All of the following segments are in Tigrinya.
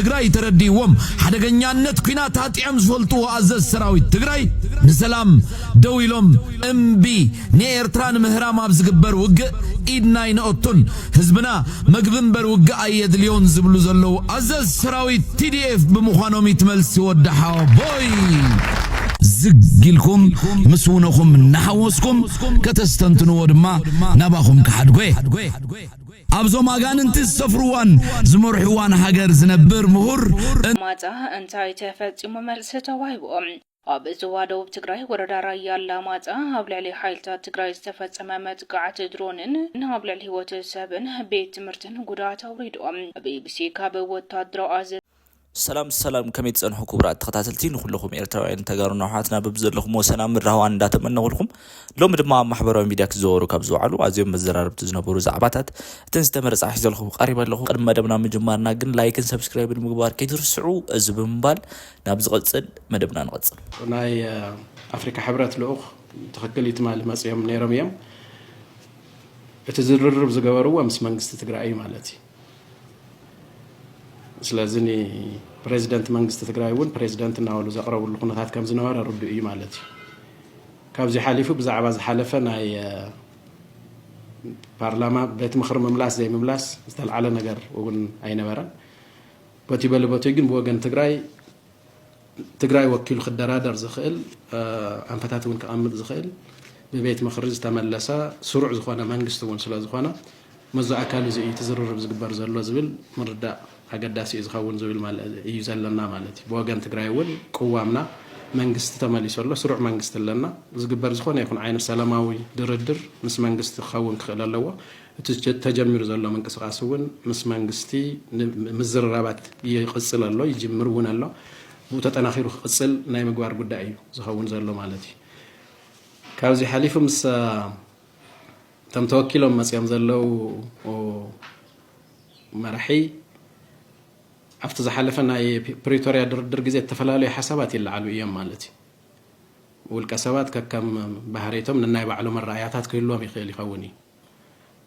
ትግራይ ተረዲእዎም ሓደገኛነት ኲናት ሃጢዕም ዝፈልጥዎ ኣዘዝ ሰራዊት ትግራይ ንሰላም ደው ኢሎም እምቢ ንኤርትራ ንምህራም ኣብ ዝግበር ውግእ ኢድና ኣይነኦቱን ህዝብና መግቢ እምበር ውግእ ኣየድልዮን ዝብሉ ዘለዉ ኣዘዝ ሰራዊት tdf ብምዃኖም ኢቲ መልሲ ወዲ ሓወቦይ ዝግ ኢልኩም ምስ ውነኹም እናሓወስኩም ከተስተንትንዎ ድማ ናባኹም ክሓድጎ'የ። ኣብዞም ኣጋንንቲ ዝሰፍርዋን ዝመርሕዋን ሃገር ዝነብር ምሁር፣ ላማጣ እንታይ ተፈጺሙ መልሲ ተዋሂቡ? ኣብ ዞባ ደቡብ ትግራይ ወረዳ ራያ ኣላማጣ ኣብ ልዕሊ ሓይልታት ትግራይ ዝተፈጸመ መጥቃዕቲ ድሮንን ኣብ ልዕሊ ህይወት ሰብን ቤት ትምህርትን ጉድኣት ኣውሪዱ። ቢቢሲ ካብ ወታደራዊ ኣዘዝቲ፣ ሰላም ሰላም ከመይ ትጸንሑ ክቡራት ተኸታተልቲ ንኩለኹም ኤርትራውያን ተጋሩን ኣሕዋትና በብዘለኹምዎ ሰላምን ራህዋን እንዳተመነኹልኩም ሎሚ ድማ ኣብ ማሕበራዊ ሚድያ ክዘወሩ ካብ ዝወዓሉ ኣዝዮም መዘራረብቲ ዝነበሩ ዛዕባታት እተን ዝተመረጻ ሒዘልኩም ቀሪበ ኣለኹ ቅድሚ መደብና ምጅማርና ግን ላይክን ሰብስክራይብን ምግባር ከይትርስዑ እዚ ብምባል ናብ ዝቕጽል መደብና ንቐጽል ናይ ኣፍሪካ ሕብረት ልኡኽ ትኽክል ይትማሊ መፅዮም ነይሮም እዮም እቲ ዝርርብ ዝገበርዎ ምስ መንግስቲ ትግራይ እዩ ማለት እዩ ስለዚ ንፕረዚደንት መንግስቲ ትግራይ እውን ፕረዚደንት እናበሉ ዘቕረብሉ ኩነታት ከም ዝነበረ ርዱእ እዩ ማለት እዩ ካብዚ ሓሊፉ ብዛዕባ ዝሓለፈ ናይ ፓርላማ ቤት ምክሪ ምምላስ ዘይምምላስ ዝተልዓለ ነገር እውን ኣይነበረን በቲ በሊ በቶይ ግን ብወገን ትግራይ ትግራይ ወኪሉ ክደራደር ዝኽእል ኣንፈታት እውን ክቐምጥ ዝኽእል ብቤት ምኽሪ ዝተመለሰ ስሩዕ ዝኾነ መንግስቲ እውን ስለዝኾነ መዞ ኣካል እዚ እዩ እቲ ዝርርብ ዝግበር ዘሎ ዝብል ምርዳእ ኣገዳሲ እዩ ዝኸውን ዝብል እዩ ዘለና ማለት እዩ ብወገን ትግራይ እውን ቅዋምና መንግስቲ ተመሊሱ ኣሎ ስሩዕ መንግስቲ ኣለና ዝግበር ዝኾነ ይኹን ዓይነት ሰላማዊ ድርድር ምስ መንግስቲ ክኸውን ክኽእል ኣለዎ እቲ ተጀሚሩ ዘሎ ምንቅስቓስ እውን ምስ መንግስቲ ምዝርራባት ይቕፅል ኣሎ፣ ይጅምር እውን ኣሎ። ብኡ ተጠናኺሩ ክቕፅል ናይ ምግባር ጉዳይ እዩ ዝኸውን ዘሎ ማለት እዩ። ካብዚ ሓሊፉ ምስ እቶም ተወኪሎም መፅኦም ዘለው መራሒ ኣብቲ ዝሓለፈ ናይ ፕሪቶሪያ ድርድር ግዜ ዝተፈላለዩ ሓሳባት ይለዓሉ እዮም ማለት እዩ። ውልቀ ሰባት ከከም ባህሪቶም ንናይ ባዕሎም ኣረኣእያታት ክህልዎም ይኽእል ይኸውን እዩ።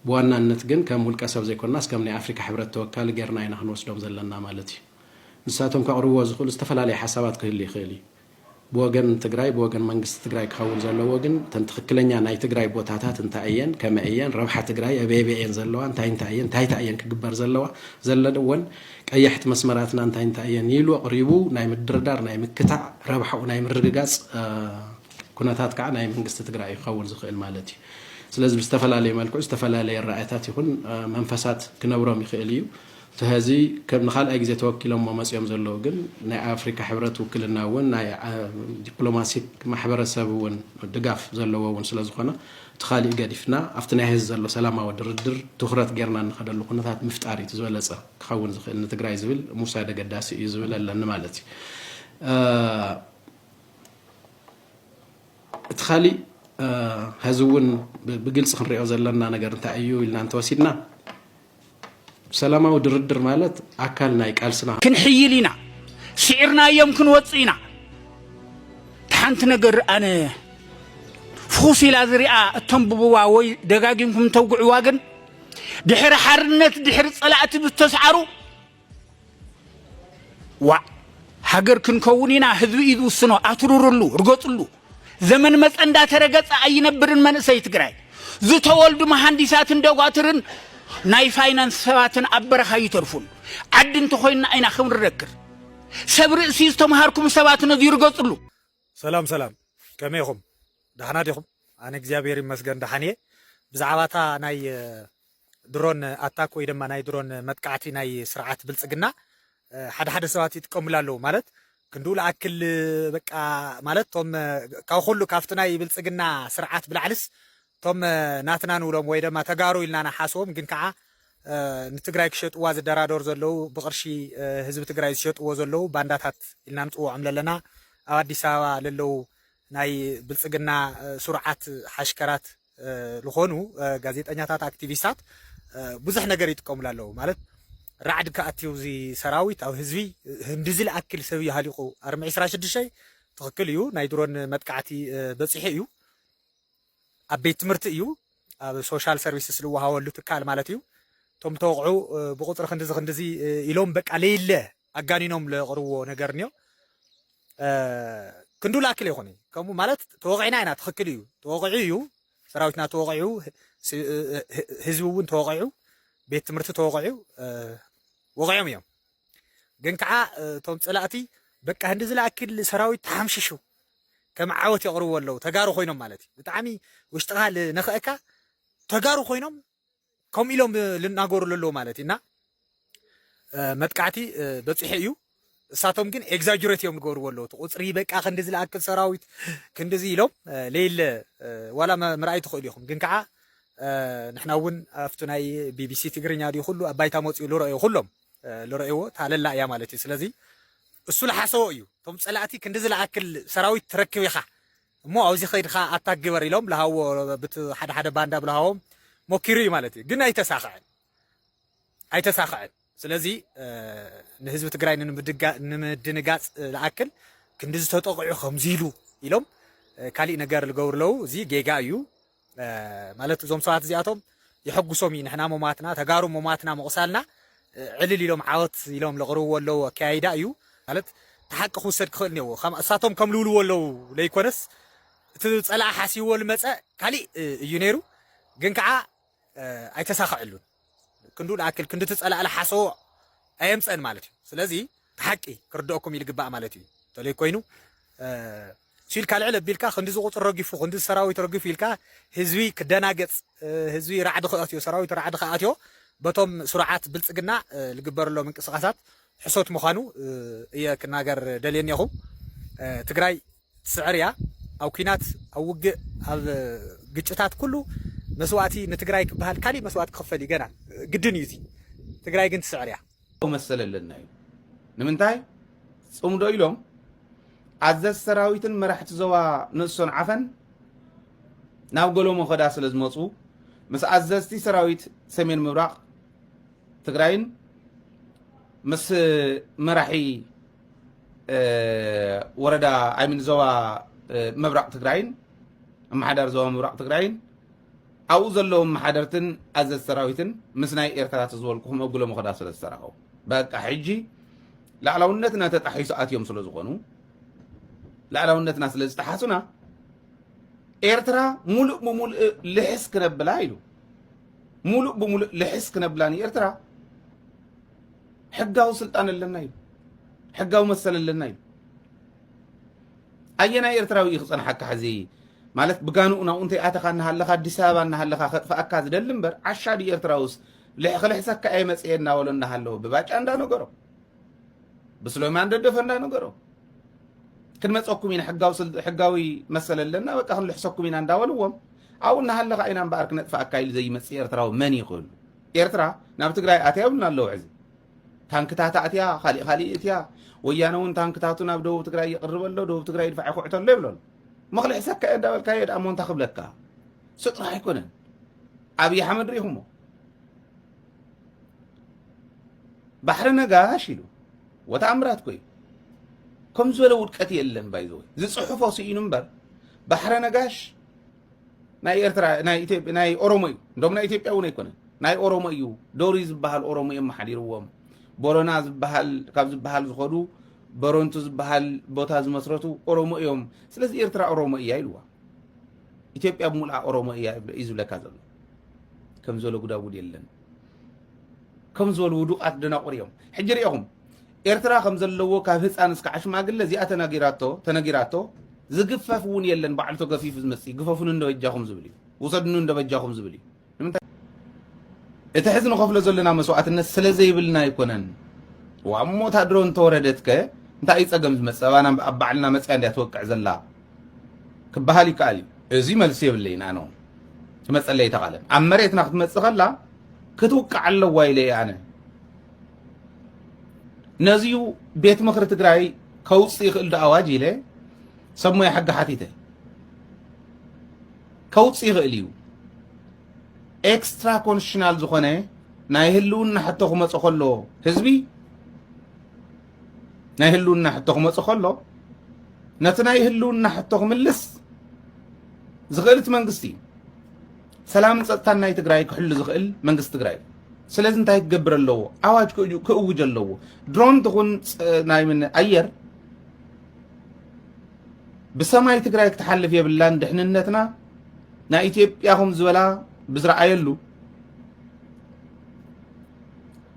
ብዋናነት ግን ከም ውልቀ ሰብ ዘይኮናስ ከም ናይ ኣፍሪካ ሕብረት ተወካሊ ገይርና ኢና ክንወስዶም ዘለና ማለት እዩ። ንሳቶም ከቕርብዎ ዝኽእሉ ዝተፈላለየ ሓሳባት ክህሉ ይኽእል እዩ። ብወገን ትግራይ ብወገን መንግስቲ ትግራይ ክኸውን ዘለዎ ግን እተን ትኽክለኛ ናይ ትግራይ ቦታታት እንታይ እየን፣ ከመይ እየን፣ ረብሓ ትግራይ ኣበየበይ እየን ዘለዋ፣ እንታይ እንታይ እየን፣ እንታይ እንታይ እየን ክግበር ዘለዋ፣ ዘለወን ቀያሕቲ መስመራትና እንታይ እንታይ እየን ኢሉ ኣቕሪቡ ናይ ምድርዳር፣ ናይ ምክታዕ፣ ረብሓኡ ናይ ምርግጋፅ፣ ኩነታት ከዓ ናይ መንግስቲ ትግራይ እዩ ክኸውን ዝኽእል ማለት እዩ። ስለዚ ብዝተፈላለየ መልክዑ ዝተፈላለየ ኣረኣእያታት ይኹን መንፈሳት ክነብሮም ይኽእል እዩ። እቲ ሀዚ ከም ንካልኣይ ግዜ ተወኪሎሞ መፅዮም ዘለዉ ግን ናይ ኣፍሪካ ሕብረት ውክልና እውን ናይ ዲፕሎማሲክ ማሕበረሰብ እውን ድጋፍ ዘለዎ እውን ስለዝኾነ እቲ ካሊእ ገዲፍና ኣብቲ ናይ ሀዚ ዘሎ ሰላማዊ ድርድር ትኹረት ጌርና እንኸደሉ ኩነታት ምፍጣር እዩ እቲ ዝበለፀ ክኸውን ዝኽእል ንትግራይ ዝብል ምውሳድ ኣገዳሲ እዩ ዝብል ኣለኒ ማለት እዩ። እቲ ካሊእ ሀዚ እውን ብግልፂ ክንሪኦ ዘለና ነገር እንታይ እዩ ኢልና እንተወሲድና ሰላማዊ ድርድር ማለት ኣካል ናይ ቃልስና ክንሕይል ኢና ስዒርናዮም ክንወፅእ ኢና ሓንቲ ነገር ኣነ ፍኹስ ኢላ ዝሪኣ እተንብብዋ ወይ ደጋጊምኩም እተውግዕዋ ግን ድሕሪ ሓርነት ድሕሪ ፀላእቲ ብዝተስዓሩ ዋዕ ሃገር ክንከውን ኢና ህዝቢ እዩ ዝውስኖ ኣትርርሉ ርገፅሉ ዘመን መፀ እንዳተረገፀ ኣይነብርን መንእሰይ ትግራይ ዝተወልዱ መሃንዲሳትን ደጓትርን ናይ ፋይናንስ ሰባትን ኣብ በረኻ ይተርፉን ዓዲ እንተኮይንና ኢና ክንረክር ሰብ ርእሲ ዝተምሃርኩም ሰባት ነዚ ይርገፅሉ ሰላም ሰላም ከመይ ኢኹም ደሓና ዲኹም ኣነ እግዚኣብሔር ይመስገን ደሓን እየ ብዛዕባ እታ ናይ ድሮን ኣታክ ወይ ድማ ናይ ድሮን መጥቃዕቲ ናይ ስርዓት ብልጽግና ሓደ ሓደ ሰባት ይጥቀሙላ ኣለዉ ማለት ክንድኡ ልኣክል በቃ ማለት ቶም ካብ ኩሉ ካብቲ ናይ ብልጽግና ስርዓት ብላዕልስ ቶም ናትና ንብሎም ወይ ድማ ተጋሩ ኢልና ንሓስቦም ግን ከዓ ንትግራይ ክሸጥዋ ዝደራደሩ ዘለዉ ብቅርሺ ህዝቢ ትግራይ ዝሸጥዎ ዘለዉ ባንዳታት ኢልና ንፅውዖም ለለና ኣብ ኣዲስ ኣበባ ለለዉ ናይ ብልፅግና ስሩዓት ሓሽከራት ልኾኑ ጋዜጠኛታት ኣክቲቪስታት ብዙሕ ነገር ይጥቀሙሉ ኣለዉ ማለት ራዕዲ ክኣትዩ እዚ ሰራዊት ኣብ ህዝቢ ህንድዚ ዝኣክል ሰብ እዩ ሃሊቑ ኣርሚ 26 ትኽክል እዩ ናይ ድሮን መጥቃዕቲ በፂሑ እዩ ኣብ ቤት ትምህርቲ እዩ ኣብ ሶሻል ሰርቪስስ ዝወሃበሉ ትካል ማለት እዩ እቶም ተወቕዑ ብቁፅሪ ክንድዚ ክንድዚ ኢሎም በቃ ለይለ ኣጋኒኖም ለቅርብዎ ነገር እንዮ ክንዱ ላክል ይኹን ከምኡ ማለት ተወቂዕና ኢና ትኽክል እዩ ተወቂዑ እዩ ሰራዊትና ተወቂዑ ህዝቢ እውን ተወቂዑ ቤት ትምህርቲ ተወቂዑ ወቂዖም እዮም ግን ከዓ እቶም ፀላእቲ በቃ ህንዲ ዝለኣክል ሰራዊት ተሓምሽሹ ከም ዓወት የቕርብዎ ኣለዉ ተጋሩ ኮይኖም ማለት እዩ ብጣዕሚ ውሽጥኻ ነኽአካ ተጋሩ ኮይኖም ከምኡ ኢሎም ልናገሩ ለለዉ ማለት እዩ እና መጥቃዕቲ በፂሑ እዩ እሳቶም ግን ኤግዛጅሬት እዮም ዝገብርዎ ኣለዉ እቲ ቁፅሪ በቃ ክንዲዚ ዝኣክል ሰራዊት ክንዲዚ ኢሎም ለይለ ዋላ ምርኣይ ትኽእሉ ኢኹም ግን ከዓ ንሕና እውን ኣብቲ ናይ ቢቢሲ ትግርኛ ድዩ ኩሉ ኣብ ባይታ መፅኡ ዝረአዩ ኩሎም ዝረአይዎ ታለላ እያ ማለት እዩ ስለዚ እሱ ልሓሰቦ እዩ እቶም ፀላእቲ ክንዲዚ ዝኣክል ሰራዊት ትረክብ ኢኻ እሞ ኣብዚ ከይድካ ኣታክ ግበር ኢሎም ልሃዎ ብቲ ሓደ ሓደ ባንዳ ብልሃዎም ሞኪሩ እዩ ማለት እዩ ግን ኣይተሳኸዐን ኣይተሳኸዐን ስለዚ ንህዝቢ ትግራይ ንምድንጋፅ ልኣክል ክንዲ ዝተጠቕዑ ከምዚ ኢሉ ኢሎም ካሊእ ነገር ልገብሩ ለው እዚ ጌጋ እዩ ማለት እዞም ሰባት እዚኣቶም የሐጉሶም እዩ ንሕና ሞማትና ተጋሩ ሞማትና ምቑሳልና ዕልል ኢሎም ዓወት ኢሎም ለቕርብዎ ኣለዉ ኣከያይዳ እዩ ማለት እቲ ሓቂ ክውሰድ ክኽእል እኒዎ እሳቶም ከም ልብልዎ ኣለዉ ለይኮነስ እቲ ፀላእ ሓሲዎ ልመፀ ካሊእ እዩ ነይሩ ግን ከዓ ኣይተሳኸዐሉን ክንዱ ንኣክል ክንዲ ትጸላእለ ሓሰዎ ኣየምጸን ማለት እዩ ስለዚ ተሓቂ ክርደኦኩም ይልግባእ ማለት እዩ ተለይ ኮይኑ ሲልካ ልዕል ኣቢልካ ክንዲ ዝቁፅር ረጊፉ ክንዲ ሰራዊት ረጊፉ ኢልካ ህዝቢ ክደናገፅ ህዝቢ ራዕዲ ክኣትዮ ሰራዊት ራዕዲ ክኣትዮ በቶም ስሩዓት ብልፅግና ዝግበረሎ ምንቅስቃሳት ሕሶት ምዃኑ እየ ክናገር ደልየ እኒኹ ትግራይ ትስዕርያ ኣብ ኩናት ኣብ ውግእ ኣብ ግጭታት ኩሉ መስዋእቲ ንትግራይ ክበሃል ካሊእ መስዋእቲ ክኽፈል እዩ ገና ግድን እዩ እዚ ትግራይ ግን ትስዕርያ። መሰል ኣለና ኢሉ ንምንታይ ጽምዶ ኢሎም ኣዘዝ ሰራዊትን መራሕቲ ዞባ ንእሶን ዓፈን ናብ ገሎመኸዳ ስለ ዝመጹ ምስ ኣዘዝቲ ሰራዊት ሰሜን ምብራቕ ትግራይን ምስ መራሒ ወረዳ ኣይሚን ዞባ ምብራቕ ትግራይን ኣመሓዳሪ ዞባ ምብራቕ ትግራይን ኣብኡ ዘለዉ ኣመሓደርትን ኣዘዝ ሰራዊትን ምስ ናይ ኤርትራ ዝበልኩ ክመግሎ መኸዳ ስለ ዝተራኸቡ በቃ ሕጂ ላዕላውነትና ተጣሒሱ ኣትዮም ስለ ዝኾኑ ላዕላውነትና ስለ ዝጠሓሱና ኤርትራ ሙሉእ ብሙሉእ ልሕስ ክነብላ ኢሉ ሙሉእ ብሙሉእ ልሕስ ክነብላ ንኤርትራ ሕጋዊ ስልጣን ኣለና ኢሉ ሕጋዊ መሰል ኣለና ኢሉ ኣየናይ ኤርትራዊ እዩ ክፀንሓካ ሕዚ ማለት ብጋንኡ ናብኡ እንተይኣተኻ እናሃለኻ ኣዲስ ኣበባ እናሃለኻ ከጥፍኣካ ዝደሊ እምበር ዓሻ ድዩ ኤርትራውስ ልሕኽልሕሰካ እየ መፅኤ እናበሎ እናሃለወ ብባጫ እንዳነገሮ ብስሎማን ደደፈ እንዳነገሮ ክንመፀኩም ኢና ሕጋዊ መሰል ኣለና በቃ ክንልሕሰኩም ኢና እንዳበልዎም ኣብኡ እናሃለኻ ኢና እምበኣር ክነጥፍኣካ ኢሉ ዘይመፅእ ኤርትራዊ መን ይኽእሉ ኤርትራ ናብ ትግራይ ኣትያ የብሉን ኣለዉ ሕዚ ታንክታት ኣእትያ ካሊእ ካሊእ እትያ ወያነ እውን ታንክታቱ ናብ ደቡብ ትግራይ ይቕርብ ኣሎ ደቡብ ትግራይ ይድፋዕ ይኩዕቶ ኣሎ ይብሎ ኣሎ መኽልሕሰካ እየ እንዳበልካ የድ ኣሞ እንታይ ክብለካ እሱ ጥራሕ ኣይኮነን ኣብዪ ኣሕመድ ሪኢኹሞ ባሕሪ ነጋሽ ኢሉ ወተኣምራት ኮይ ከም ዝበለ ውድቀት የለን ባይዘወይ ዝፅሕፎ ስኢኑ እምበር ባሕረ ነጋሽ ናይ ኤርትራ ናይ ኢትዮጵያ ናይ ኦሮሞ እዩ እንደውም ናይ ኢትዮጵያ እውን ኣይኮነን ናይ ኦሮሞ እዩ ዶሪ ዝበሃል ኦሮሞ እዮም መሓዲርዎም ቦረና ዝበሃል ካብ ዝበሃል ዝኸዱ በረንቱ ዝበሃል ቦታ ዝመስረቱ ኦሮሞ እዮም ስለዚ ኤርትራ ኦሮሞ እያ ኢልዋ ኢትዮጵያ ብምልኣ ኦሮሞ እያ እዩ ዝብለካ ዘሎ ከም ዘሎ ጉዳጉድ የለን ከም ዝበሉ ውዱቃት ደናቁር እዮም ሕጂ ሪኢኹም ኤርትራ ከም ዘለዎ ካብ ህፃን እስካዕ ሽማግለ እዚኣ ተነጊራቶ ተነጊራቶ ዝግፈፍ እውን የለን ባዕሉ ተገፊፉ ዝመፅእ ግፈፉኒ እንደ በጃኹም ዝብል እዩ ውሰድኒ እንደ በጃኹም ዝብል እዩ ንምንታይ እቲ ሕዚ ንኸፍሎ ዘለና መስዋእትነት ስለ ዘይብልና ኣይኮነን ዋሞ ታድሮ እንተወረደትከ እንታይ እዩ ፀገም ዝመፅእ ኣባና ኣብ ባዕልና መፅያ እንድያ ትወቅዕ ዘላ ክበሃል ይከኣል እዩ። እዚ መልሲ የብለይን ኣነ ውን ትመፀለ ኣይተኻለን ኣብ መሬትና ክትመፅእ ከላ ክትውቃዕ ኣለዋ ኢለ እየ ኣነ ነዚዩ ቤት ምኽሪ ትግራይ ከውፅእ ይኽእል ዶ ኣዋጅ ኢለ ሰብ ሞያ ሕጊ ሓቲተ ከውፅእ ይኽእል እዩ ኤክስትራ ኮንስሽናል ዝኾነ ናይ ህልውና ሕቶ ክመፆ ከሎ ህዝቢ ናይ ህልውና ሕቶ ክመፁ ከሎ ነቲ ናይ ህልውና ሕቶ ክምልስ ዝኽእል እቲ መንግስቲ እዩ ሰላምን ፀጥታን ናይ ትግራይ ክሕሉ ዝኽእል መንግስቲ ትግራይ እዩ ስለዚ እንታይ ክገብር ኣለዎ ኣዋጅ ክእውጅ ኣለዎ ድሮን ትኹን ናይ ምን ኣየር ብሰማይ ትግራይ ክትሓልፍ የብላን ድሕንነትና ናይ ኢትዮጵያ ኹም ዝበላ ብዝረኣየሉ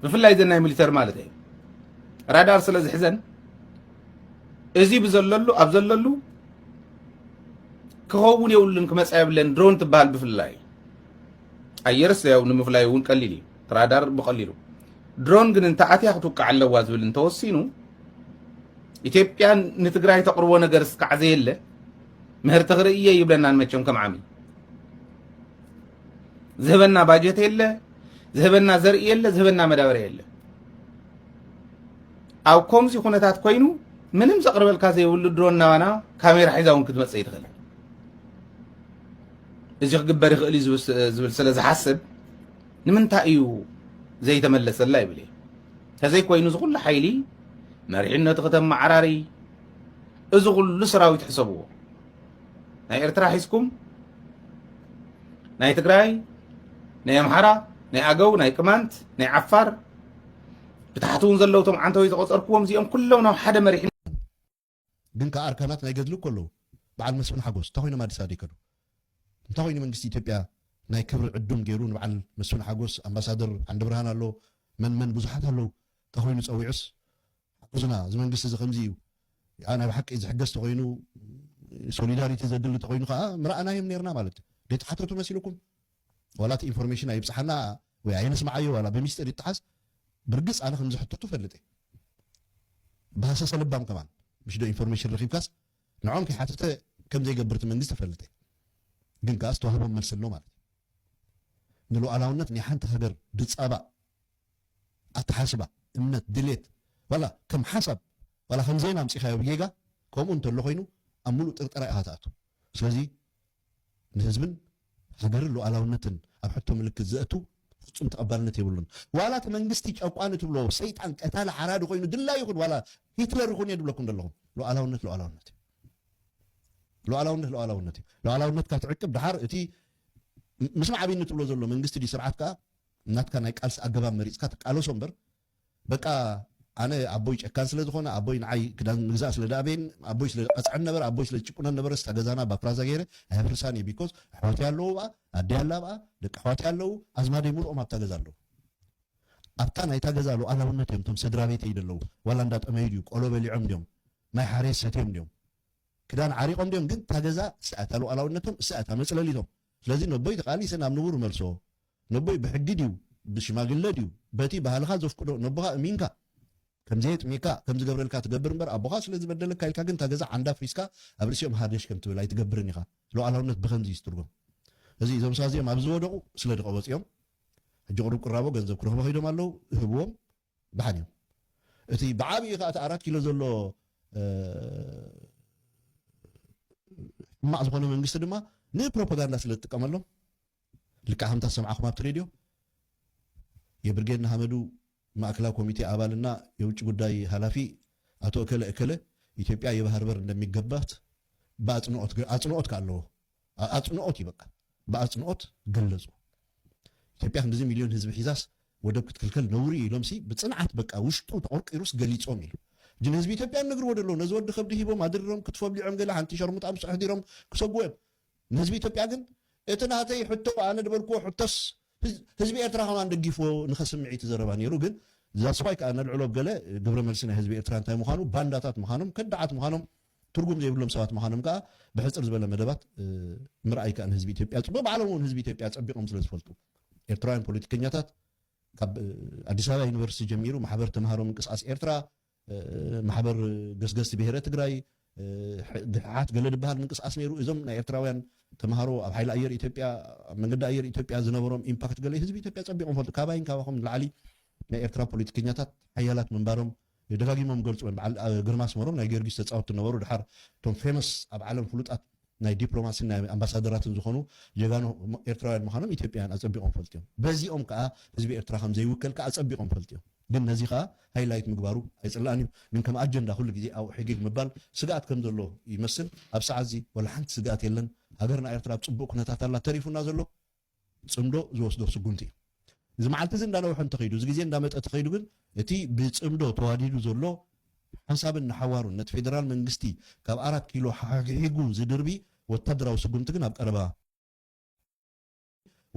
ብፍላይ ዘን ናይ ሚሊተሪ ማለት እዩ ራዳር ስለ ዝሕዘን እዚ ብዘለሉ ኣብ ዘለሉ ክኸውን የብሉን ክመፃ የብለን ድሮን ትበሃል ብፍላይ ኣየርስ ያው ንምፍላይ እውን ቀሊል እዩ ራዳር ብቐሊሉ ድሮን ግን እንተኣትያ ክትውቃዕ ኣለዋ ዝብል እንተወሲኑ ኢትዮጵያ ንትግራይ ተቕርቦ ነገር ስካዕ ዘየለ ምህርቲ ክርእየ ይብለናን መቸም ከም ዓሚ ዝህበና ባጀት የለ፣ ዝህበና ዘርኢ የለ፣ ዝህበና መዳበርያ የለ። ኣብ ከምዚ ኩነታት ኮይኑ ምንም ዘቕርበልካ ዘይብሉ ድሮ እናባና ካሜራ ሒዛ እውን ክትመፅእ ይትኽእል እዚ ክግበር ይኽእል እዩ ዝብል ስለ ዝሓስብ ንምንታይ እዩ ዘይተመለሰላ ይብል እየ ተዘይኮይኑ እዚ ኩሉ ሓይሊ መሪሕነቱ ክተመዓራሪ እዚ ኩሉ ሰራዊት ሕሰብዎ ናይ ኤርትራ ሒዝኩም ናይ ትግራይ ናይ ኣምሓራ ናይ ኣገው ናይ ቅማንት ናይ ዓፋር ብታሕቲ እውን ዘለዉ እቶም ዓንተወይ ዝቆፀርክዎም እዚኦም ኩሎም ናብ ሓደ መሪሕነት ግን ከዓ ኣርካናት ናይ ገድሊ እኮ ኣለዉ በዓል መስፍን ሓጎስ እንታይ ኮይኖም ኣዲስ ኣበይ ከዱ እንታይ ኮይኑ መንግስቲ ኢትዮጵያ ናይ ክብሪ ዕዱም ገይሩ ንበዓል መስፍን ሓጎስ ኣምባሳደር ዓንደብርሃን ኣሎ መን መን ብዙሓት ኣለዉ እንታይ ኮይኑ ፀዊዑስ ሓጉዙና እዚ መንግስቲ እዚ ከምዚ እዩ ያኣ ናይ ብሓቂ ዝሕገዝ ተኾይኑ ሶሊዳሪቲ ዘድሊ ተኾይኑ ካኣ ምራኣናዮም ኔርና ማለት እዩ ደይትሓተቱ መሲሉኩም ዋላ እቲ ኢንፎርሜሽን ኣይብጻሓና ወይ ኣይነስማዓዮ ዋላ ብሚስጢር ይታሓዝ ብርግጽ ኣነ ከም ዝሕተቱ እፈልጥ እየ ብሃሰሰ ልባም ከማን ምሽ ዶ ኢንፎርሜሽን ረኺብካስ ንዖም ከይሓተተ ከም ዘይገብር እቲ መንግስቲ እፈልጥ እየ ግን ካኣ ዝተዋህቦም መልሲ ኣሎ ማለት እዩ ንሉኣላውነት ናይ ሓንቲ ሃገር ድጻባእ ኣተሓስባ፣ እምነት፣ ድሌት ዋላ ከም ሓሳብ ዋላ ከም ዜና ኣምጺኻዮ ብጌጋ ከምኡ እንተሎ ኮይኑ ኣብ ምሉእ ጥርጠራ ኢኻ ትኣቱ። ስለዚ ንህዝብን ሃገርን ሉኣላውነትን ኣብ ሕቶ ምልክት ዘእቱ ፍጹም ተቐባልነት የብሉን። ዋላ እቲ መንግስቲ ጨቋኒ ትብሎ ሰይጣን ቀታሊ ሓራዲ ኮይኑ ድላዩ ይኹን ዋላ ሂትለር ይኹን እየ ድብለኩም ደለኹም ሉኣላውነት ሉኣላውነት እዩ። ሉኣላውነት ሉኣላውነት እዩ። ሉኣላውነትካ ትዕቅብ ድሓር እቲ ምስ ማዕቢኒ ትብሎ ዘሎ መንግስቲ ድዩ ስርዓት ከኣ ናትካ ናይ ቃልሲ ኣገባብ መሪጽካ ትቃለሶ እምበር በቃ ኣነ ኣቦይ ጨካን ስለ ዝኾነ ኣቦይ ንዓይ ክዳን ምግዛእ ስለ ድኣበየኒ ኣቦይ ስለ ድቀጽዐኒ ነበረ ኣቦይ ስለ ድጭቁነኒ ነበረስ እታ ገዛና ባፕራዛ ገይረ ኣየፍርሳን እየ ቢኮዝ ኣሕዋተይ ኣለዉ ብኣ ኣደይ ኣላ ብኣ ደቂ ኣሕዋተይ ኣለዉ ኣዝማደይ ሙሉኦም ኣብታ ገዛ ኣለዉ ኣብታ ናይታ ገዛ ሉኣላውነት እዮም እቶም ስድራ ቤተይ ደለዉ ዋላ እንዳጠመዩ ድዩ ቆሎ በሊዖም ድዮም ማይ ሓሬስ ሰትዮም ድዮም ክዳን ዓሪቆም ድዮም ግን እታ ገዛ እሳእታ ሉኣላውነቶም እሳእታ መጽለሊቶም ስለዚ ነቦይ ተቃሊሰ ናብ ንቡር መልሶ ነቦይ ብሕጊ ድዩ ብሽማግለ ድዩ በቲ ባህልኻ ዘፍቅዶ ነቦኻ እሚንካ ከምዘየጥሚካ ከምዝገብረልካ ትገብር እምበር ኣቦኻ ስለዝበደለካ ኢልካ ግን እታ ገዛ ዓንዳ ኣፍሪስካ ኣብ ርእሲኦም ሃርደሽ ከምትብል ኣይትገብርን ኢኻ ሉዓላውነት ብኸምዚ እዩ ዝትርጎም እዚ እዞም ሰባዚኦም ኣብዝወደቁ ስለድቀወጽ እዮም ሕጂ ቅሩብ ቅራቦ ገንዘብ ክረኽቡ ከይዶም ኣለው ህብዎም ደሓን እዮም እቲ ብዓብዩ ከኣ እቲ ኣራት ኪሎ ዘሎ ሕማቅ ዝኮነ መንግስቲ ድማ ንፕሮፖጋንዳ ስለ ዝጥቀመሎም ልክዕ ከምታ ዝሰምዓኹም ኣብቲ ሬድዮ የብርጌድ ንሃመዱ ማእከላዊ ኮሚቴ ኣባልና የውጭ ጉዳይ ሃላፊ ኣቶ እከለ እከለ ኢትዮጵያ የባህር በር እንደሚገባት ብኣጽንኦት ኣጽንኦት ከኣ ኣለዎ ኣኣፅንኦት እዩ በቃ ብኣፅንኦት ገለፁ ኢትዮጵያ ክንድዚ ሚልዮን ህዝቢ ሒዛስ ወደብ ክትክልከል ነውሪ እዩ ኢሎምሲ ብፅንዓት በቃ ውሽጡ ተቖርቂሩስ ገሊፆም ኢሉ ሕጂ ንህዝቢ ኢትዮጵያ እነግርዎ ደሎ ነዚ ወዲ ከብዲ ሂቦም ኣድሪሮም ክትፎ ኣብሊዖም ገለ ሓንቲ ሸርሙጣ ምስ ኣሕዲሮም ክሰጉዎ እዮም ንህዝቢ ኢትዮጵያ ግን እቲ ናተይ ሕቶ ኣነ ዝበልክዎ ሕቶስ ህዝቢ ኤርትራ ከማን ደጊፍዎ ንኸስምዒቲ ዘረባ ነይሩ ግን ዛስዋይ ከዓ ነልዕሎ ገለ ግብረ መልሲ ናይ ህዝቢ ኤርትራ እንታይ ምዃኑ ባንዳታት ምዃኖም ከዳዓት ምዃኖም ትርጉም ዘይብሎም ሰባት ምዃኖም ከኣ ብሕጽር ዝበለ መደባት ምርኣይ ይከኣል። ንህዝቢ ኢትዮጵያ ጽቡቕ፣ ባዕሎም እውን ህዝቢ ኢትዮጵያ ኣጸቢቖም ስለ ዝፈልጡ። ኤርትራውያን ፖለቲከኛታት ካብ ኣዲስ ኣበባ ዩኒቨርሲቲ ጀሚሩ ማሕበር ተማሃሮ ምንቅስቓስ ኤርትራ፣ ማሕበር ገስገስቲ ብሄረ ትግራይ፣ ግሕሓት ገለ ዝበሃል ምንቅስቓስ ነይሩ። እዞም ናይ ኤርትራውያን ተማሃሮ ኣብ ሓይሊ ኣየር ኢትዮጵያ፣ ኣብ መንገዲ ኣየር ኢትዮጵያ ዝነበሮም ኢምፓክት ገለ ህዝቢ ኢትዮጵያ ጸቢቖም ፈልጡ። ካባይን ካባኹም ንላዕሊ ናይ ኤርትራ ፖለቲከኛታት ሓያላት ምንባሮም ደጋጊሞም ይገልጽዎ እዮም በዓል ግርማ ኣስመሮም ናይ ጊዮርጊስ ተጻወቲ ዝነበሩ ደሓር እቶም famous ኣብ ዓለም ፍሉጣት ናይ ዲፕሎማሲን ናይ ኣምባሳደራትን ዝኾኑ ጀጋኑ ኤርትራውያን ምዃኖም ኢትዮጵያውያን ኣጸቢቖም ይፈልጡ እዮም በዚኦም ከኣ ህዝቢ ኤርትራ ከም ዘይውከል ከኣ ኣጸቢቖም ይፈልጡ እዮም ግን ነዚ ከኣ ሃይላይት ምግባሩ ኣይጽላእን እዩ ግን ከም ኣጀንዳ ኩሉ ግዜ ኣብኡ ሕጊግ ምባል ስግኣት ከም ዘሎ ይመስል ኣብ ሰዓት እዚ ወላ ሓንቲ ስግኣት የለን ሃገርና ኤርትራ ኣብ ጽቡቕ ኩነታት ኣላ ተሪፉና ዘሎ ጽምዶ ዝወስዶ ስጉምቲ እዩ። እዚ መዓልቲ እዚ እንዳነውሐ እንተኸይዱ፣ እዚ ግዜ እንዳመጠ ተኸይዱ ግን እቲ ብጽምዶ ተዋዲዱ ዘሎ ሓንሳብን ንሓዋሩን ነቲ ፌደራል መንግስቲ ካብ ኣራት ኪሎ ሓግሒጉ ዝድርቢ ወታደራዊ ስጉምቲ ግን ኣብ ቀረባ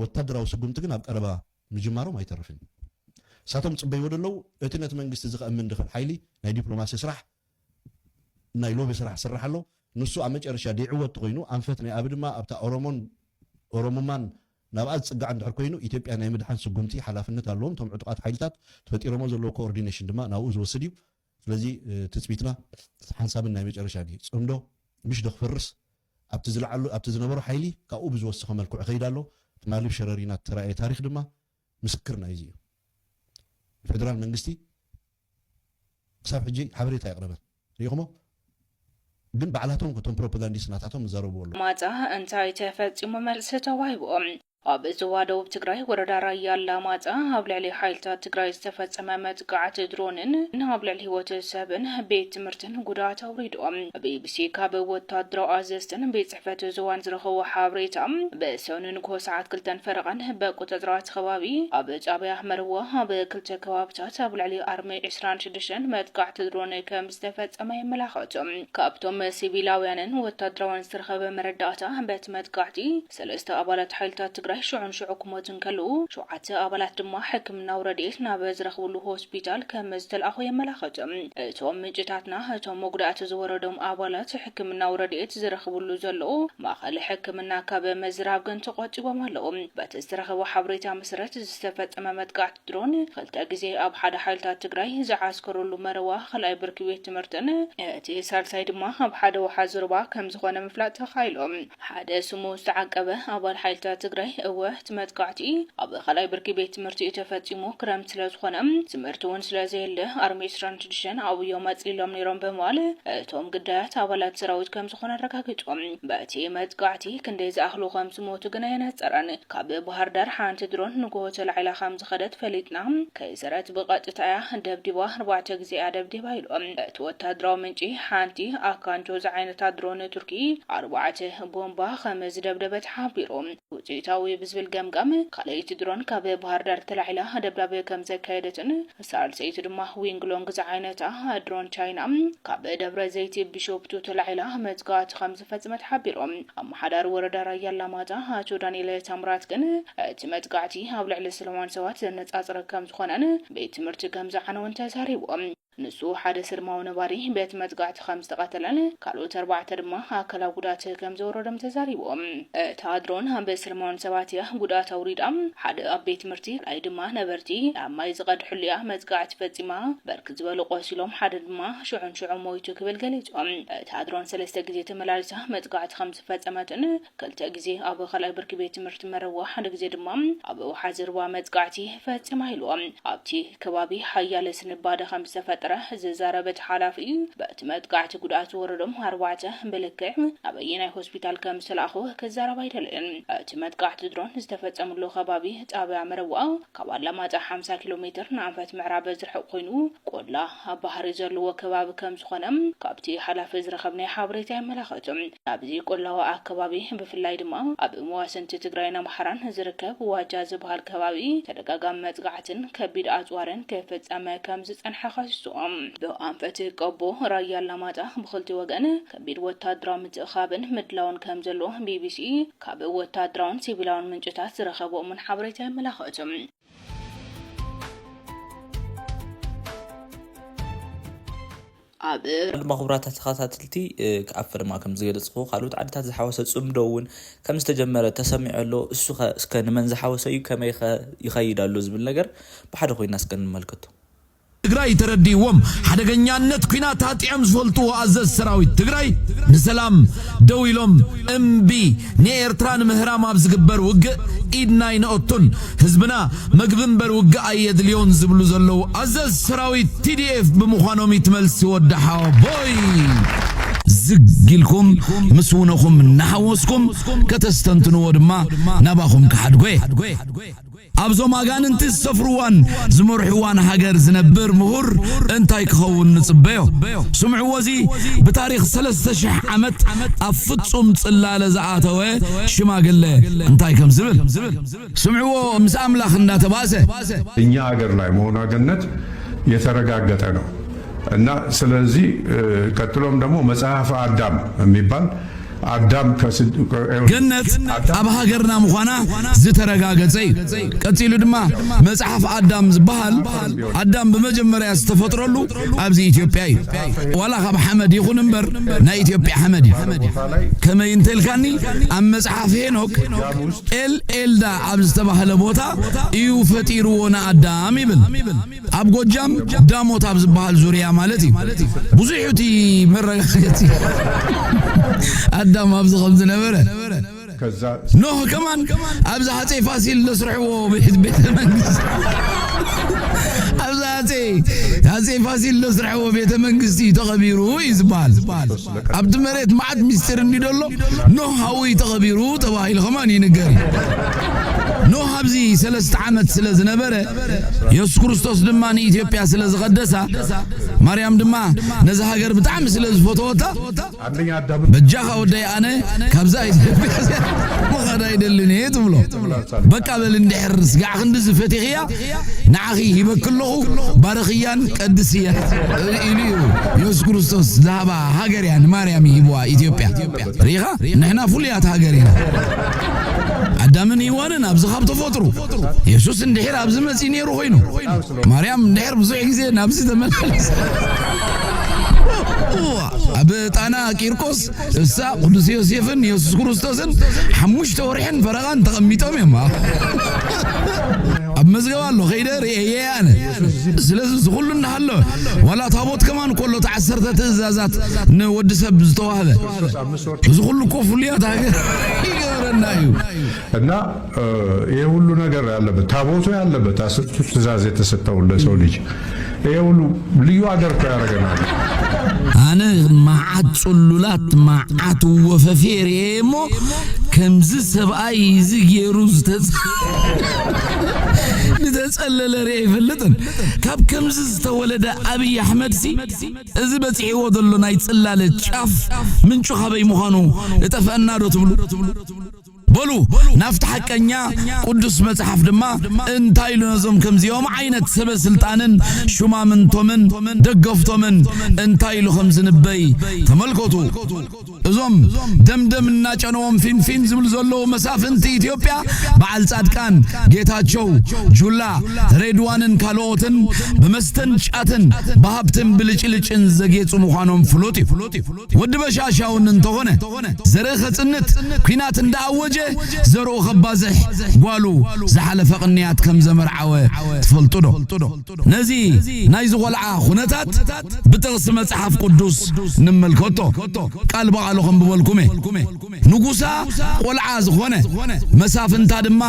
ወታደራዊ ስጉምቲ ግን ኣብ ቀረባ ምጅማሮም ኣይተርፍን እዩ። ንሳቶም ዝጽበይዎ ደለዉ እቲ ነቲ መንግስቲ እዚ ከእምን ድኽል ሓይሊ ናይ ዲፕሎማሲ ስራሕ ናይ ሎቢ ስራሕ ዝስራሕ ኣሎ ንሱ ኣብ መጨረሻ ደይዕወት ተኾይኑ ኣንፈት ናይ ኣብይ ድማ ኣብታ ኦሮሞን ኦሮሙማን ናብኣ ዝፅጋዕ እንድሕር ኮይኑ ኢትዮጵያ ናይ ምድሓን ስጉምቲ ሓላፍነት ኣለዎም እቶም ዕጡቓት ሓይልታት ተፈጢሮሞ ዘለዉ ኮኦርዲነሽን ድማ ናብኡ ዝወስድ እዩ ስለዚ ትፅቢትና ሓንሳብን ናይ መጨረሻን እዩ ፅምዶ ምሽ ዶ ክፈርስ ኣብቲ ዝለዓሉ ኣብቲ ዝነበሮ ሓይሊ ካብኡ ብዝወሰኸ መልክዑ ይኸይድ ኣሎ ትማሊ ብሸረሪና እተራእየ ታሪኽ ድማ ምስክር ናይዚ እዩ። ንፌደራል መንግስቲ ክሳብ ሕጂ ሓበሬታ ኣየቕረበን። ርኢኹሞ? ግን ባዕላቶም እኮ እቶም ፕሮፖጋንዲስት ናታቶም ዝዛረብዎ ኣለዉ። ማጻ እንታይ ተፈጺሙ መልሲ ተዋሂቡ። ኣብ ዞባ ደቡብ ትግራይ ወረዳ ራያ ኣላማጣ ኣብ ልዕሊ ሓይልታት ትግራይ ዝተፈጸመ መጥቃዕቲ ድሮንን ኣብ ልዕሊ ህይወት ሰብን ቤት ትምህርትን ጉድኣት ኣውሪዱ። ቢቢሲ ካብ ወታደራዊ ኣዘዝትን ቤት ጽሕፈት ዝዋን ዝረኸቦ ሓበሬታ ብሰው ንንግሆ ሰዓት ክልተን ፈረቓን በቁጸጽራ እቲ ከባቢ ኣብ ጣብያ መርዋ ኣብ ክልተ ከባብታት ኣብ ልዕሊ ኣርሚ ዕስራን ሽዱሽተን መጥቃዕቲ ድሮን ከምዝተፈጸመ የመላኸቱ። ካብቶም ሲቪላውያንን ወታደራውያን ዝተረኸበ መረዳእታ በቲ መጥቃዕቲ ሰለስተ ኣባላት ሓይልታት ትግራይ ሽዑን ሽዑ ክሞቱ እንከለዉ ሸውዓተ ኣባላት ድማ ሕክምናዊ ረድኤት ናብ ዝረኽብሉ ሆስፒታል ከምዝተልኣኹ የመላኸቱ። እቶም ምንጭታትና እቶም መጉዳእቲ ዝወረዶም ኣባላት ሕክምናዊ ረድኤት ዝረኽብሉ ዘለዉ ማእኸል ሕክምና ካብ ምዝራብ ግን ተቖጢቦም ኣለዉ። በቲ ዝተረኸበ ሓበሬታ መሰረት ዝተፈፀመ መጥቃዕቲ ድሮን ኽልተ ግዜ ኣብ ሓደ ሓይልታት ትግራይ ዝዓስከሩሉ መረዋ ኻልኣይ ብርኪ ቤት ትምህርትን እቲ ሳልሳይ ድማ ኣብ ሓደ ወሓዚ ሩባ ከምዝኾነ ምፍላጥ ተኻኢሉ። ሓደ ስሙ ዝተዓቀበ ኣባል ሓይልታት ትግራይ፣ እወ እቲ መጥቃዕቲ ኣብ ካልኣይ ብርኪ ቤት ትምህርቲ እዩ ተፈጺሙ፣ ክረምቲ ስለ ዝኾነ ትምህርቲ እውን ስለ ዘየለ ኣርሚ ዕስራን ሽዱሽተን ኣብኡ እዮም ኣጽሊሎም ነይሮም ብምባል እቶም ግዳያት ኣባላት ሰራዊት ከም ዝኾኑ ኣረጋጊጹ። በቲ መጥቃዕቲ ክንደይ ዝኣኽሉ ከም ዝሞቱ ግን ኣየነጸረን። ካብ ባህርዳር ሓንቲ ድሮን ንጉሆ ተላዒላ ከም ከምዝኸደት ፈሊጥና፣ ከይዘረት ብቐጥታ እያ ደብዲባ፣ ኣርባዕተ ግዜ እያ ደብዲባ ኢሉ እቲ ወተሃደራዊ ምንጪ። ሓንቲ ኣካንጆ ዝዓይነታ ድሮን ቱርኪ ኣርባዕተ ቦምባ ከምዝደብደበት ሓቢሩ። ውጽኢታዊ'ዩ ብዝብል ገምጋም፣ ካልኣይቲ ድሮን ካብ ባህርዳር ተላዒላ ደብዳብ ከምዘካየደትን ሳልሰይቲ ድማ ዊንግሎንግ ዝዓይነታ ድሮን ቻይና ካብ ደብረዘይቲ ቢሾፕቱ ተላዒላ መጥቃዕቲ ከምዝተፈጸመ ተሓቢሩ። ኣመሓዳሪ ወረዳ ራያ ኣላማጣ ኣቶ ዳኒኤል ታምራት ግን እቲ መጥቃዕቲ ኣብ ልዕሊ ሰለማውያን ሰባት ዘነጻጸረ ከምዝኾነን ቤት ትምህርቲ ከምዝዓነወን ተዛሪቡ። ንሱ ሓደ ስልማዊ ነባሪ በቲ መጥቃዕቲ ከምዝተቐተለን ካልኦት ኣርባዕተ ድማ ኣካላዊ ጉድኣት ከምዘወረዶም ተዛሪቡ። እታ ድሮን ኣብ ሰለማውያን ሰባት እያ ጉድኣት ኣውሪዳ፣ ሓደ ኣብ ቤት ትምህርቲ ካልኣይ ድማ ነበርቲ ኣብ ማይ ዝቐድሕሉ እያ መጥቃዕቲ ፈጺማ፣ ብርክት ዝበሉ ቆሲሎም፣ ሓደ ድማ ሽዑን ሽዑ ሞይቱ ክብል ገሊጹ። እታ ድሮን ሰለስተ ግዜ ተመላሊሳ መጥቃዕቲ ከም ዝፈጸመትን ክልተ ግዜ ኣብ ካልኣይ ብርኪ ቤት ትምህርቲ መረዋ ሓደ ግዜ ድማ ኣብ ወሓዚ ሩባ መጥቃዕቲ ፈጺማ ኢሉ ኣብቲ ከባቢ ሓያለ ስንባደ ከም ዝተፈጠረ ዝዛረበ እቲ ሓላፊ በቲ መጥቃዕቲ ጉድኣት ዝወረዶም ኣርባዕተ ብልክዕ ናብ ኣየናይ ሆስፒታል ከም ዝተላእኹ ክዛረብ ኣይደለየን። እቲ መጥቃዕቲ ድሮን ዝተፈጸምሉ ከባቢ ጣብያ መረዋ ካብ ኣላማጣ ሓምሳ ኪሎ ሜትር ንኣንፈት ምዕራብ ዝርሕቕ ኮይኑ፣ ቆላ ኣብ ባህሪ ዘለዎ ከባቢ ከም ዝኾነ ካብቲ ሓላፊ ዝረኸብናዮ ሓበሬታ የመላኽት። ኣብዚ ቆላዊ ኣከባቢ ብፍላይ ድማ ኣብ መዋስንቲ ትግራይን ኣምሓራን ዝርከብ ዋጃ ዝበሃል ከባቢ ተደጋጋሚ መጥቓዕትን ከቢድ ኣፅዋርን ክፍፀም ከም ዝፀንሐ ከሲሶም። ብኣንፈት ቆቦ ራያ ኣላማጣ ብኽልቲኡ ወገን ከቢድ ወታደራዊ ምትእኽኻብን ምድላውን ከም ዘሎ ቢቢሲ ካብ ወታደራውን ሲቪላውን ምንጭታት ዝረኸብኦ እሙን ሓበሬታ የመላኽት። ኣብ ድማ ክቡራት ተኸታተልቲ ኣብ ፈለማ ከም ዝገለፅዎ ካልኦት ዓድታት ዝሓወሰ ፅምዶ እውን ከም ዝተጀመረ ተሰሚዑ ኣሎ እሱ ኸ እስከ ንመን ዝሓወሰ እዩ ከመይ ኸ ይኸይድ ኣሎ ዝብል ነገር ብሓደ ኮይና እስከ ንመልከቶ ትግራይ ተረዲእዎም ሓደገኛነት ኲናት ሃጢዕም ዝፈልጥዎ ኣዘዝ ሰራዊት ትግራይ ንሰላም ደው ኢሎም እምቢ ንኤርትራ ንምህራም ኣብ ዝግበር ውግእ ኢድና ኣይነኦቱን ህዝብና መግቢ እምበር ውግእ ኣየድልዮን ዝብሉ ዘለዉ ኣዘዝ ሰራዊት TDF ብምዃኖም ኢዩ እቲ መልሲ ወዲ ሓወቦይ ዝግ ኢልኩም ምስ ውነኹም እናሓወስኩም ከተስተንትንዎ ድማ ናባኹም ክሓድጎ እየ። ኣብዞም ኣጋንንቲ ዝሰፍርዋን ዝመርሕዋን ሃገር ዝነብር ምሁር እንታይ ክኸውን ንጽበዮ? ስምዕዎ እዚ ብታሪኽ ሰለስተ ሽሕ ዓመት ኣብ ፍጹም ጽላለ ዝኣተወ ሽማግለ እንታይ ከም ዝብል። ስምዕዎ ምስ ኣምላኽ እንዳተባእሰ። እኛ ሀገር ላይ መሆኗ ገነት የተረጋገጠ ነው እና ስለዚህ ቀጥሎም ደግሞ መጽሐፈ አዳም የሚባል ኣዳም ከስድ። ገነት ኣብ ሃገርና ምዃና ዝተረጋገጸ እዩ። ቀጺሉ ድማ መጽሓፍ ኣዳም ዝበሃል ኣዳም ብመጀመርያ ዝተፈጥረሉ ኣብዚ ኢትዮጵያ እዩ። ዋላ ካብ ሓመድ ይኹን እምበር ናይ ኢትዮጵያ ሓመድ እዩ። ከመይ እንተልካኒ ኣብ መጽሓፍ ሄኖክ ኤል ኤልዳ ኣብ ዝተባህለ ቦታ እዩ ፈጢርዎ ንኣዳም ይብል። ኣብ ጎጃም ዳሞት ኣብ ዝበሃል ዙርያ ማለት እዩ ብዙሕ እቲ መረጋገፂ ኣዳም ኣብዚ ከም ዝነበረ ኖህ ከማን ኣብዚ ሃፀይ ፋሲል ዘስርሕዎ ቤተ መንግስቲ ኣብዚ ሃፀይ ፋሲል ዘስርሕዎ ቤተ መንግስቲ እዩ ተቐቢሩ እዩ ዝበሃል ኣብቲ መሬት መዓት ምስጢር እንዲዶ ኣሎ ኖህ ኣብኡ እዩ ተቐቢሩ ተባሂሉ ከማን ይንገር እዩ ኖህ ኣብዚ ሰለስተ ዓመት ስለ ዝነበረ የሱስ ክርስቶስ ድማ ንኢትዮጵያ ስለ ዝቐደሳ ማርያም ድማ ነዚ ሃገር ብጣዕሚ ስለ ዝፈተወታ በጃኻ ወደይ ኣነ ካብዛ ኢትዮጵያ ምኻድ ኣይደልን እየ ትብሎ በቃ በል እንድሕር ስጋዕ ክንዲ ዝፈቲኽያ ንዓኺ ሂበኪ ኣለኹ ባርኽያን ቀድስያን ኢሉ እዩ የሱስ ክርስቶስ ዝሃባ ሃገር እያ ንማርያም ሂብዋ ኢትዮጵያ ርኢኻ ንሕና ፍሉያት ሃገር ኢና ኣዳምን ሂዋንን ኣብዚ ካብ ተፈጥሩ የሱስ እንድሕር ኣብዚ መጺእ ነይሩ ኮይኑ ማርያም እንድሕር ብዙሕ ግዜ ናብዚ ተመላለስ ኣብ ጣና ቂርቆስ እሳ ቅዱስ ዮሴፍን የሱስ ክርስቶስን ሓሙሽተ ወርሕን ፈረቓን ተቐሚጦም እዮም ኣብ መዝገብ ኣሎ ከይደ ርእየ ኣነ ስለዚ እዚ ኩሉ እናሃለወ ዋላ ታቦት ከማን ከሎ እቲ ዓሰርተ ትእዛዛት ንወዲ ሰብ ዝተዋህበ እዚ ኩሉ እኮ ፍሉያት ሃገር ይገብረና እዩ እና ይሄ ሁሉ ነገር ያለበት ታቦቱ ያለበት አስርቱ ትእዛዝ የተሰጠው ለሰው ልጅ ይሄ ሁሉ ልዩ ሀገር እኮ ያደረገናል። አነ መዓት ጽሉላት መዓት ወፈፌ ርኤ እሞ ከምዚ ሰብኣይ እዚ ገይሩ ዝተጸለለ ርኤ ይፈልጥን ካብ ከምዚ ዝተወለደ ኣብዪ ኣሕመድ ሲ እዚ በጺሕዎ ዘሎ ናይ ጽላለ ጫፍ ምንጩ ካበይ ምዃኑ እጠፍአና ዶ ትብሉ በሉ ናብቲ ሓቀኛ ቁዱስ መጽሓፍ ድማ እንታይ ኢሉ ነዞም ከምዚኦም ዓይነት ሰበ ስልጣንን ሹማምንቶምን ደገፍቶምን እንታይ ኢሉ ከም ዝንበይ ተመልከቱ እዞም ደምደም እናጨነዎም ፊንፊን ዝብሉ ዘለዉ መሳፍንቲ ኢትዮጵያ በዓል ጻድቃን ጌታቸው ጁላ ሬድዋንን ካልኦትን ብመስተን ጫትን ብሃብትን ብልጭልጭን ዘጌጹ ምዃኖም ፍሉጥ እዩ ወዲ በሻሻ ውን እንተኾነ ዘርኢ ከጽንት ኩናት እንዳኣወጀ ዘርኡ ከባዝሕ ጓሉ ዝሓለፈ ቅንያት ከምዘመርዓወ ትፈልጡ ዶ? ነዚ ናይዚ ቆልዓ ኩነታት ብጥቕሲ መጽሓፍ ቁዱስ ንመልከቶ ቃል ብቓሉ ከንብበልኩም እየ። ንጉሳ ቆልዓ ዝኾነ፣ መሳፍንታ ድማ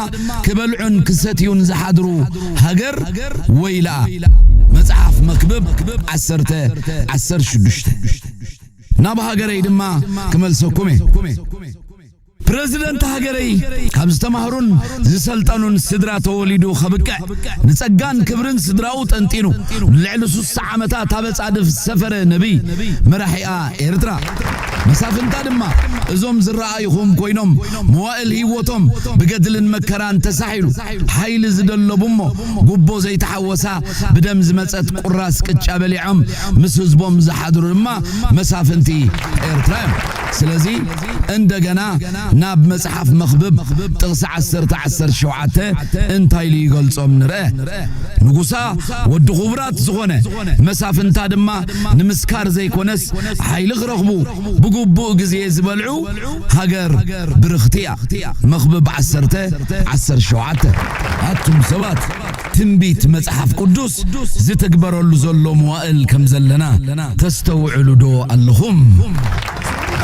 ክበልዑን ክሰትዩን ዝሓድሩ ሃገር ወይልኣ። መጽሓፍ መክብብ ዓሰርተ፣ ዓሰርተ ሽዱሽተ። ናብ ሃገረይ ድማ ክመልሰኩም እየ። ፕረዚደንት ሃገረይ ካብ ዝተማህሩን ዝሰልጠኑን ስድራ ተወሊዱ ከብቅዕ፣ ንጸጋን ክብርን ስድራኡ ጠንጢኑ፣ ንልዕሊ ሱሳ ዓመታት ኣብ ኣጻድፍ ዝሰፈረ ነብይ መራሒኣ ኤርትራ፣ መሳፍንታ ድማ እዞም ዝረኣይኹም ኮይኖም መዋእል ህይወቶም ብገድልን መከራን ተሳሒሉ ሓይሊ ዝደለቡ እሞ ጉቦ ዘይተሓወሳ ብደም ዝመጸት ቁራስ ቅጫ በሊዖም ምስ ህዝቦም ዝሓድሩ ድማ መሳፍንቲ ኤርትራ እዮም ስለዚ እንደገና ናብ መጽሓፍ መክብብ ጥቅሲ ዓሰርተ ዓሰርተ ሸውዓተ እንታይ ኢሉ ይገልጾም ንርኣ ንጉሳ ወዲ ኩቡራት ዝኾነ መሳፍንታ ድማ ንምስካር ዘይኮነስ ሓይሊ ክረኽቡ ብግቡእ ግዜ ዝበልዑ ሃገር ብርኽቲ እያ መኽብብ ዓሰርተ ዓሰርተ ሸውዓተ። ኣቱም ሰባት ትንቢት መጽሓፍ ቅዱስ ዝትግበረሉ ዘሎ መዋእል ከም ዘለና ተስተውዕሉ ዶ ኣለኹም?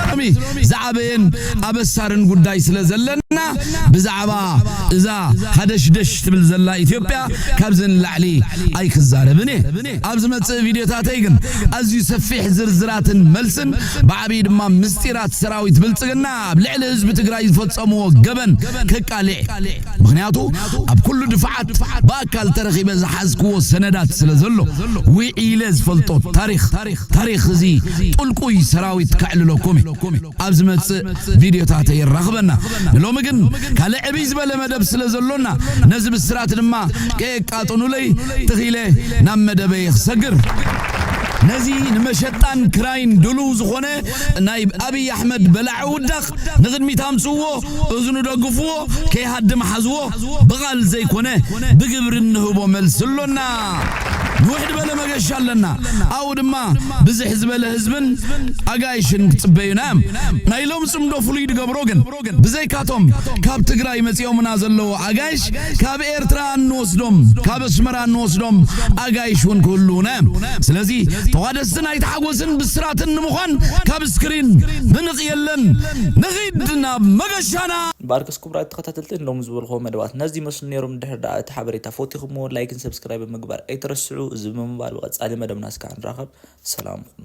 ሎሚ ዝዓበየን ኣበሳርን ጉዳይ ስለ ዘለና ብዛዕባ እዛ ሃደሽደሽ ትብል ዘላ ኢትዮጵያ ካብዚ ንላዕሊ ኣይክዛረብን እየ። ኣብ ዝመጽእ ቪድዮታተይ ግን ኣዝዩ ሰፊሕ ዝርዝራትን መልስን ብዓብዪ ድማ ምስጢራት ሰራዊት ብልጽግና ኣብ ልዕሊ ህዝቢ ትግራይ ዝፈጸምዎ ገበን ከቃልዕ እየ። ምኽንያቱ ኣብ ኩሉ ድፋዓት ብኣካል ተረኺበ ዝሓዝክዎ ሰነዳት ስለ ዘሎ ዊዒለ ዝፈልጦ ታሪኽ ታሪኽ እዚ ጥልቁይ ሰራዊት ከዕልለኩም እየ ኣብ ዝመጽእ ቪድዮታተይ የራኽበና ንሎሚ ግን ካልእ ዕብይ ዝበለ መደብ ስለ ዘሎና ነዚ ብስራት ድማ ከየቃጡኑለይ ትኺለ ናብ መደበየ ክሰግር ነዚ ንመሸጣን ክራይን ድሉው ዝኾነ ናይ ኣብይ ኣሕመድ በላዒ ውዳቕ ዉድቀት ንቕድሚት ኣምጽእዎ እዝኑ ደግፍዎ ከይሃድም ሓዝዎ ብቓል ዘይኮነ ብግብሪ እንህቦ መልሲ ኣሎና ንውሕድ በለ መገሻ ኣለና ኣብኡ ድማ ብዝሕ ዝበለ ህዝብን ኣጋይሽን ክጽበዩና እዮም ናይ ሎም ጽምዶ ፍሉይ ድገብሮ ግን ብዘይካቶም ካብ ትግራይ መጺኦምና ዘለዉ ኣጋይሽ ካብ ኤርትራ እንወስዶም ካብ ኣስመራ እንወስዶም ኣጋይሽ ውን ክህልዉና እዮም ስለዚ ተቋደስትን ኣይተሓጎስን ብስራትን ንምዃን ካብ ስክሪን ጸቕጢ የለን ንኺድ ናብ መገሻና። ባርክስ ኩቡራት ተኸታተልቲ ንሎሚ ዝበልክዎ መደባት ነዚ ይመስሉ ኔሮም እንድሕር ድኣ እቲ ሓበሬታ ፎቲኹምዎ ላይክን ሰብስክራይብን ምግባር ኣይትረስዑ እዚ ብምባል ብቐጻሊ መደብና እስካዕ ንራኸብ ሰላም ኩኑ።